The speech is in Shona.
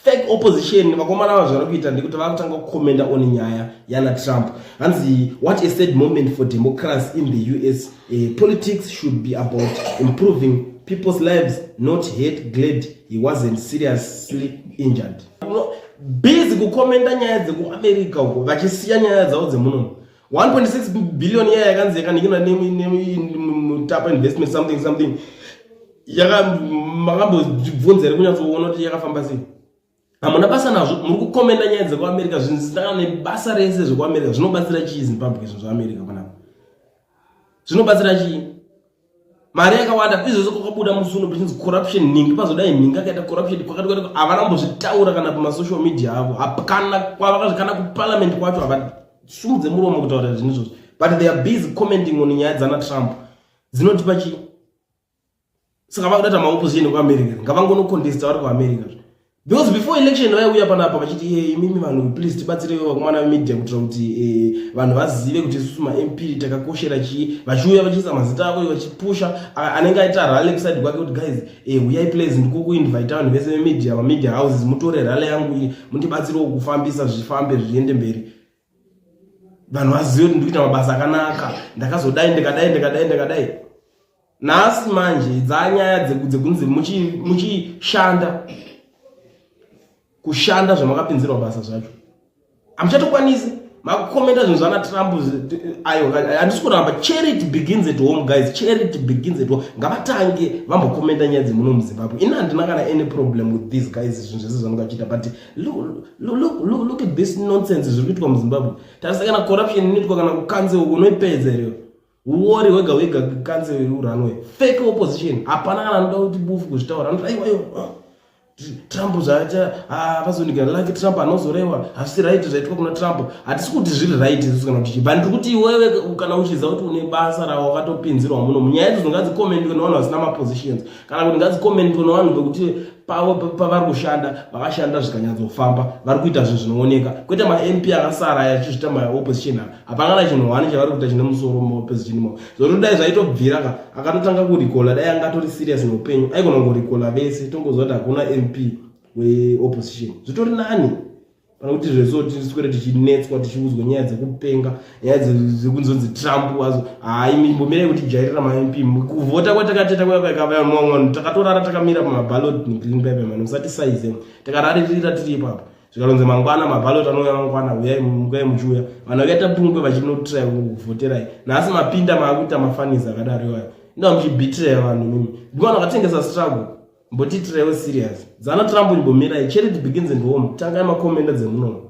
fake opposition vakomana ava zvari kuita ndekuti vari kutanga kukomenda on nyaya yana trump hanzi what a sad moment for democracy in the us uh, eh, politics should be about improving people's lives not hate glad he wasn't seriously injured busy kukomenda nyaya dzekuamerica uko vachisiya nyaya dzavo dzemunomu 1.6 billion iya yakanzi yakaninginwa nemutapa investment something something makambozvibvunza here kunyatsoona kuti yakafamba sei hamuna basa nazvo muri kukomenda nyaya dzekuamerica zvinhu zvisitangana nebasa rese zvekuamerica zvinobatsira chii zimbabwe izvo zveamerica panapa zvinobatsira chii mari yakawanda izvozvo kwakabuda musuno pachinzi corruption nhingi pazodai nhingi akaita corruption kwakati kwati havana kumbozvitaura kana kumasocial media avo hapana kwavakazvikana kuparliament kwacho havasumudze muromo kutaura zvinhu izvozvo but they are busy commenting on nyaya dzana trump dzinotipa chii saka vakuda ta maopposition kuamerica ngavangonocontesta vari kuamerica Because before election vaiuya panapa vachiti hey, eh, imimi vanhu please tibatsire vakomana vemedia kuitira kuti hey, eh, vanhu vazive kuti isusu mamp takakoshera chii vachiuya vachiisa mazita avo vachipusha anenge aita rally kuside kwake kuti guys hey, eh, uyai please ndikukuinvita vanhu vese vemedia mamedia houses mutore rally yangu iyi mundibatsirewo kufambisa zvifambe zviende mberi vanhu vazive kuti ndikuita mabasa akanaka ndakazodai ndikadai ndikadai ndikadai nhasi manje dzanyaya dzekunzi muchishanda kushanda zvamakapinzirwa basa zvacho hamuchatokwanisi makukomenta zvinhu zvana trump ayo handisi kuramba charity begins at home guys charity begins at home ngavatange vambokomenta nyaya dzemuno muzimbabwe ini handina kana any problem with these guys zvinhu zvese zvamukachiita but look at this nonsense zviri kuitwa muzimbabwe tarisa kana corruption inoitwa kana kukanze uko unoipedza iriyo uori wega wega kanze uranwe fake opposition hapana kana anoda kuti bufu kuzvitaura anoti aiwa iwo ah, trump zvaita ah, vazonika lake trump anozorewa hazvisi right zvaitwa kuna trump hatisi kuti zviri right isu kana kuti chibva ndiri kuti iwewe kana uchiziva kuti une basa rawakatopinzirwa muno munyaya idzo dzingadzikomendwe nevanhu vasina mapositions kana kuti ngadzikomentwe nevanhu vekuti pavo pavari kushanda vakashanda zvikanyatsofamba vari kuita zvinhu zvinooneka kwete mamp akasara yachizvita maopposition aa hapangana chinhu hwani chavari kuita chine musoro mumaopposition imomo zvokuti dai zvaitobvira ka akatotanga kurikola dai anga atori serious neupenyu aikona kungorikola vese tongoziva kuti hakuna mp weopposition zvitori nani kana kuti zveso tiswere tichinetswa tichiudzwa nyaya dzekupenga nyaya dzekunzonzi trump wazo hai mimbomirai kuti jairira mamp kuvhota kwatakateta kwayakakavayamwamwanu takatorara takamira pamabalot negreen paper mani musati saize takararirira tiri ipapo zvikalonzi mangwana mabalot anouya mangwana huyai mukai muchiuya vanhu vakaita pungwe vachinotrai kuvhoterai nhasi mapinda maakuita mafanizi akadaro iwayo indaa muchibhitiraya vanhu mimi ndivanhu vakatengesa struggle Mbotitirewo serious. Zana Trump imbomirai. Charity begins in home. Tangai makomenda dzemunomu.